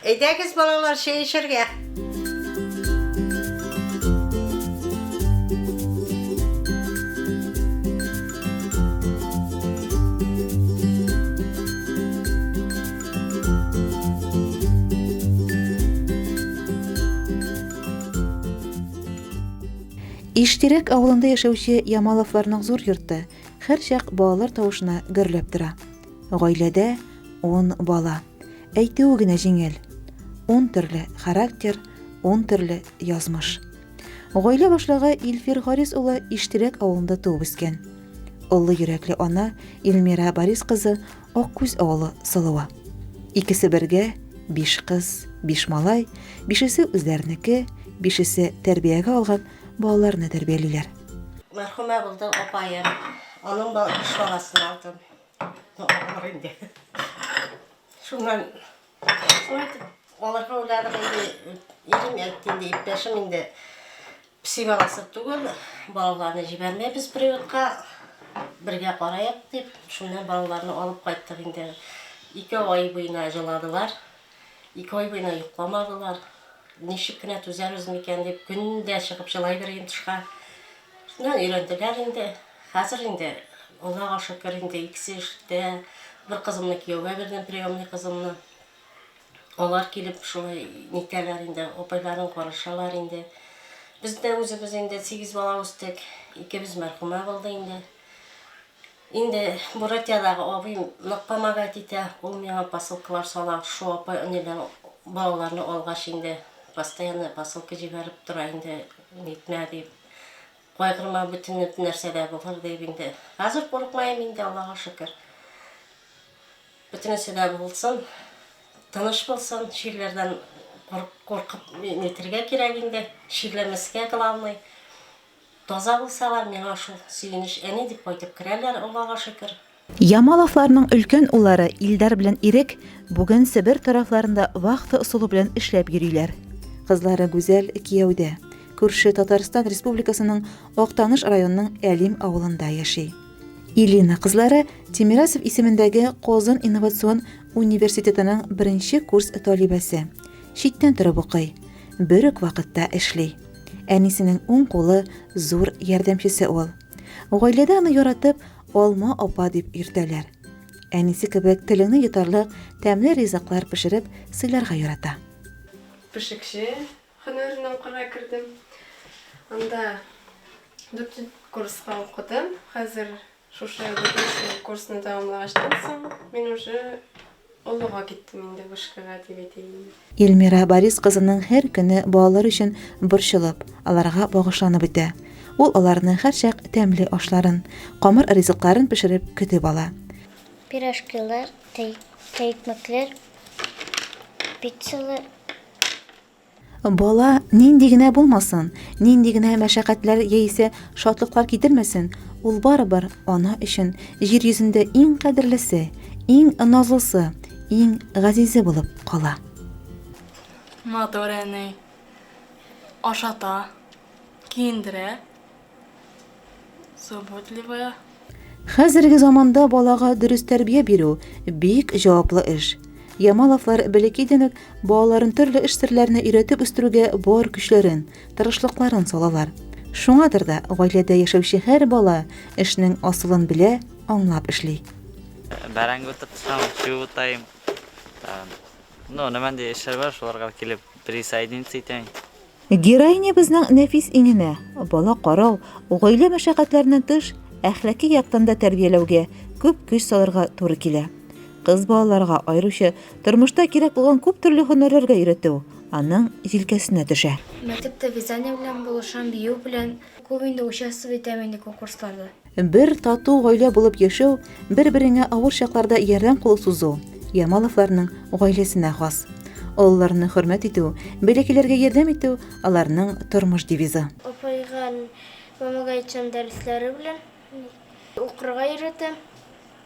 Әйдәгез, балалар, чәй эчәргә! Иштирәк авылында яшәүче Ямаловларның зур йорты һәрчак балалар тавышына гөрләп тора. Гаиләдә ун бала. Әйтүе генә җиңел. Ун төрле характер, ун төрле язмыш. Гаилә башлыгы Илфир Гарис улы Иштирәк авылында туып үскән. Олы йөрәкле ана Илмира Барис кызы Аккүз авылы Сылуы. Икесе бергә, биш кыз, биш малай, бишесе үзләренеке, бишесе тәрбиягә алган балаларны тәрбиялиләр. Мәрхүмә булды апаем. Аның биш баласын алдым. Ноктага бар инде. Шуннан шулай итеп алырга уйладык инде. Ирем әйтте инде, иптәшем инде пси баласы түгел, балаларны җибәрмәйбез приютка, бергә караек дип, шуннан балаларны алып кайттык инде. Ике ай буена җыладылар, ике ай буена йокламадылар. Ничек кенә түзәбез микән дип, көн дә чыгып җылай берәем тышка. Шуннан өйрәнделәр инде. Хәзер инде, Аллага шөкер, инде икесе эштә. Бер кызымны кияүгә бирдем, приемный кызымны. Алар килеп шулай нитәләр инде, апайларын карашалар инде. Без дә үзебез инде сигез бала үстек. Икебез мәрхүмә булды инде. Инде Буратиядагы абыем нык помогать итә, ул миңа посылкалар сала, шушы апай они белән балаларны алгач инде постоянно посылка җибәреп тора инде, нитмә дип, кайгырма бөтен нәрсә дә булыр дип инде, хәзер курыкмыйм инде Аллага шөкер. Бөтенесе дә булсын, тыныч булсын, чирләрдән куркып нитергә кирәк инде, чирләмәскә главный, Таза булсалар, миңа шул сөенеч әни дип кайтып керәләр, Аллага шөкер. Ямаловларның өлкән уллары Илдар белән Ирек бүген Себер тарафларында вахта ысулы белән эшләп йөриләр. Кызлары Гүзәл кияүдә, күрше Татарстан Республикасының Актаныш районының Әлим авылында яши. Илина кызлары Тимирасов исемендәге Казан инновацион университетының беренче курс талибәсе. Читтән торып укый. бер үк вакытта эшли. Әнисенең уң кулы, зур ярдәмчесе ул. Гаиләдә аны яратып, Алма апа дип йөртәләр. Әнисе кебек телеңне йотарлык тәмле ризыклар пешереп сыйларга ярата. Пешекче һөнәренә укырга кердем. Анда дүртенче курска укыдым. Хәзер Шушы вышка курсны тәмамлагачтан соң, мин уже олыга киттем инде вышкага дип әйтәйин. Ильмира Борис кызының һәр көне балалар өчен борчылып, аларга багышланып үтә. Ул аларны һәрчак тәмле ашларын, камыр ризыкларын пешереп көтеп ала. Пирожкилар, тәй, тәйкмәкләр, пиццалар. Бала нинди генә булмасын, нинди генә мәшәкатьләр яисә шатлыклар китермәсен, ул барыбер ана өчен җир йөзендә иң кадерлесе, иң назлысы, иң газизе булып кала. Матур әни. Ашата, киендерә, Заботливая. Хәзерге заманда балага дөрес тәрбия бирү бик җаваплы эш. Ямаловлар бәләкәйдән үк балаларын төрле эш серләренә өйрәтеп үстерүгә бар көчләрен, тырышлыкларын салалар. Шуңадыр да гаиләдә яшәүче һәр бала эшнең асылын белә, аңлап эшли. Бәрәңге тотсам, чү утайым. Ну, нәмәндә эшләр бар, шуларга килеп присоединиться итәм. Героинябызның нәфис иңенә, бала карау, гаилә мәшәкатьләреннән тыш, әхлаки яктан да тәрбияләүгә күп көч салырга туры килә. Кыз балаларга, аеруча, тормышта кирәк булган күп төрле һөнәрләргә өйрәтү аның җилкәсенә төшә. Мәктәптә вязание белән булышам, бию белән. Күп инде участвовать итәм инде конкурсларда. Бер тату гаилә булып яшәү, бер-береңә авыр чакларда ярдәм кулы сузу Ямаловларның гаиләсенә хас. Олыларны хөрмәт итү, бәләкәйләргә ярдәм итү аларның тормыш девизы. Апайга, мамага әйтсәм, дәресләре белән укырга өйрәтәм.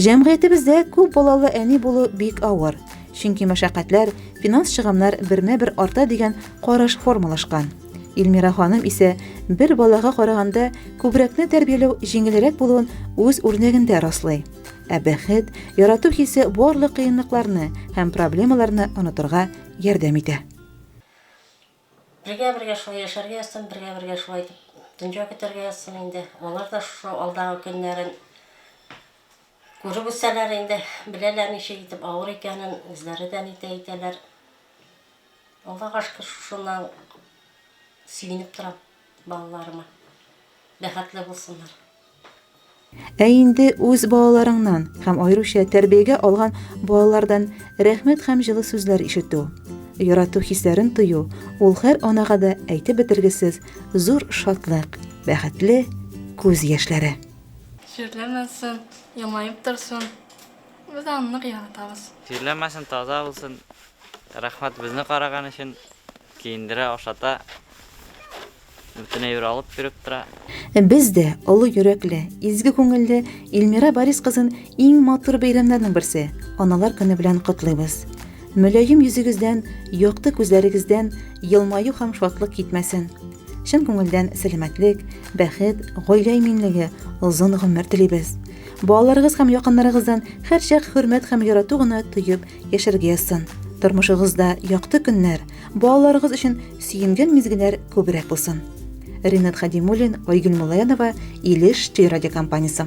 Җәмгыятебездә күп балалы әни булу бик авыр, чөнки мәшәкатьләр, финанс чыгымнар бермә-бер арта дигән караш формалашкан. Илмира ханым исә бер балага караганда күбрәкне тәрбияләү җиңелрәк булуын үз үрнәгендә раслый. Ә бәхет, ярату хисе барлык кыенлыкларны һәм проблемаларны онытырга ярдәм итә. Бергә-бергә шулай яшәргә язсын, бергә-бергә шулай итеп дөнья көтәргә язсын инде. Алар да шушы алдагы көннәрен күреп үсәләр инде, беләләр ничек итеп авыр икәнен, үзләре дә нитә итәләр. Аллага шөкер, шушыннан сөенеп торам. Балаларыма бәхетле булсыннар. Ә инде үз балаларыңнан һәм аеруча тәрбиягә алган балалардан рәхмәт һәм җылы сүзләр ишетү, ярату хисләрен тою, ул һәр анага да әйтеп бетергесез зур шатлык, бәхетле күз яшьләре. Чирләмәсен, елмаеп торсын. Без аны нык яратабыз. Чирләмәсен, таза булсын. Рәхмәт безне караган өчен, киендерә, ашата, бөтенәй бер алып йөреп тора. Без дә олы йөрәкле, изге күңелле Илмира Борис кызын иң матур бәйрәмнәрнең берсе, Аналар көне белән котлыйбыз. Мөлаем йөзегездән, якты күзләрегездән елмаю һәм шатлык китмәсен. Чын күңелдән сәламәтлек, бәхет, гаилә иминлеге, озын гомер телибез. Балаларыгыз һәм якыннарыгыздан һәрчак хөрмәт һәм ярату гына тоеп Яшәргә язсын. Тормышыгызда якты көннәр, балаларыгыз өчен сөенгән мизгелләр күбрәк булсын. Ринат Хадимуллин, Айгөл Мулаянова, Илеш телерадиокомпаниясе.